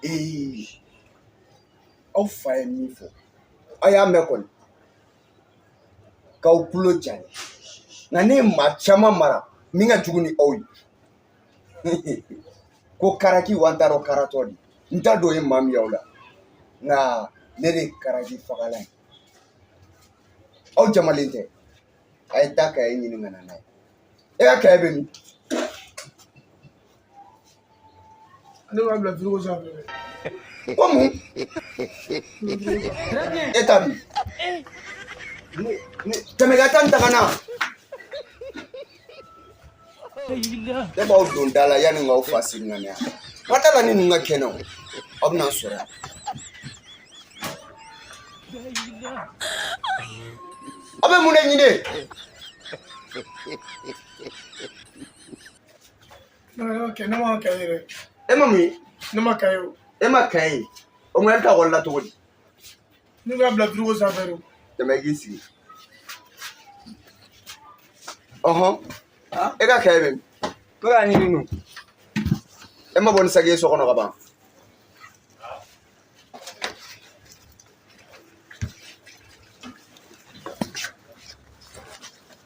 ee aw fa ye min fɔ aw y'a mɛn kɔni k'aw tulo jalen nka ne ye maa caman mara min ka jugu ni aw ye ko karaki wa n t'a dɔn karatɔ de n t'a dɔn o ye maa min y'aw la nka ne de ye karaki fagalan ye aw jamalen tɛ a ye taa kaye ɲini ka na n'a ye e ka kaye bɛ min ne b'a bila firigo sanfɛ ko mun e ta min tɛmɛ ka taa n ta ka na Ne b'aw don da la yanni k'aw fa segin ka na yan ma da la ni ninnu ka kɛnɛ o aw bɛna n sɔrɔ yan aw bɛ mun de ɲini ne ma kaye ye dɛ e ma mun ye ne ma kaye ye o e ma kaye ye o ŋa e bɛ taa ekɔli la cogo di Ne b'a bila firigo sanfɛ de tɛmɛ i k'i sigi ɔhɔn e ka kaye bɛ min ne k'a ɲini nu e ma bɔ ni sagi ye so kɔnɔ ka ban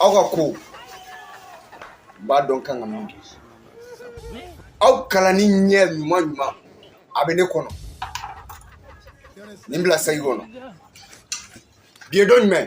aw ka ko n b'a dɔn kan ka min kɛ aw kalanni ɲɛ ɲuman ɲuman a bɛ ne kɔnɔ nin bila sagi kɔnɔ bi ye don jumɛn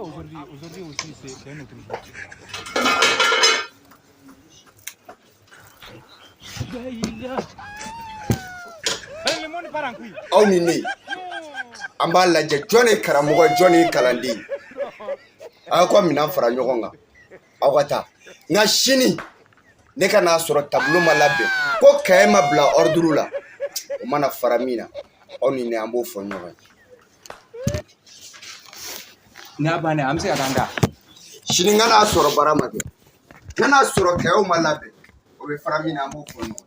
aujourd'hui, aujourd'hui aussi, c'est un autre jour. aw ni ne an b'a lajɛ jɔn ye karamɔgɔ jɔn ye kalanden a y'aw ka minɛn fara ɲɔgɔn kan aw ka taa nka sini ne ka n'a sɔrɔ tableau ma labɛn ko kaye ma bila ordre la o mana fara min na aw ni ne an b'o fɔ ɲɔgɔn ye n'a bannen an bɛ se ka taa da sini n ka n'a sɔrɔ baara ma kɛ n ka n'a sɔrɔ kayew ma labɛn o bɛ fara min na an b'o fɔ ɲɔgɔn ye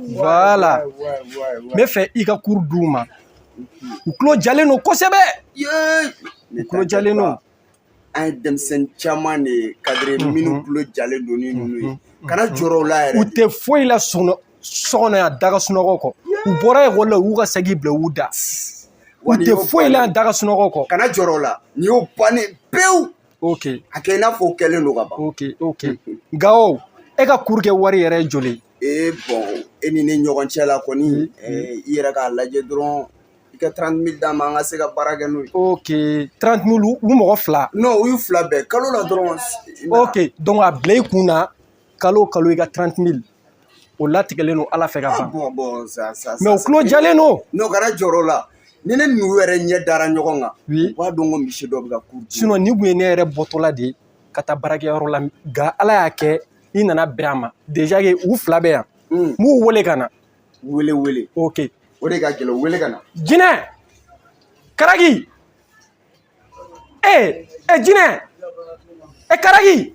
voilà n b'a fɛ i ka cours d'u ma u tulo jalen don kosɛbɛ u tulo jalen don an ye denmisɛnnin caman de ye kadiri mhm. minnu tulo jalen don ni mhm. ninnu ye kana jɔrɔ o la yɛrɛ u tɛ foyi la so kɔnɔ yan da ka sunɔgɔ kɔ u bɔra ekɔli la u y'u ka sagi bila u da u tɛ foyi la yan da ka sunɔgɔ kɔ kana jɔrɔ o la nin y'o bannen pewu ok a kɛ i n'a fɔ o kɛlen don ka ban ok ok gawo e ka cours kɛ wari yɛrɛ ye joli ee bon e ni ne ɲɔgɔn cɛ la kɔni i yɛrɛ k'a lajɛ dɔrɔn i ka 30 mille d'a ma an ka se ka baara kɛ n'o ye ok 30 mille u mɔgɔ fila non u y'u fila bɛɛ kalo la dɔrɔn ok donc a bila i kun na kalo o kalo i ka 30 mille o latigɛlen don ala fɛ ka ban mais u tulo jalen don non kana jɔrɔ o la ni ne n'u yɛrɛ ɲɛ dara ɲɔgɔn kan u b'a dɔn ko monsieur dɔ bɛ ka cours sinon nin tun ye ne yɛrɛ bɔtɔla de ye ka taa baarakɛyɔrɔ la nka ala y'a kɛ i nana bɛn a ma déjà que u fila bɛ yan n b'u wele ka na wele wele ok o de ka gɛlɛn u wele ka na jinɛ karaki ee e jinɛ e karaki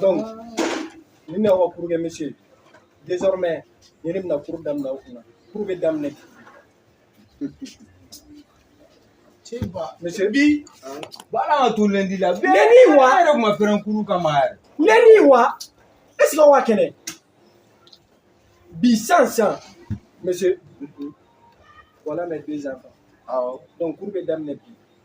donc ni ne ka cours kɛ monsieur désormais ni ne bɛna cours daminɛ o kunna cours bɛ daminɛ monsieur bi baara ka to lundi la lundi wa yɛrɛ tun ma pɛrɛn cours kama yɛrɛ lundi wa est ce que wa kɛnɛ bi san san monsieur voilà mes deux enfants donc cours bɛ daminɛ bi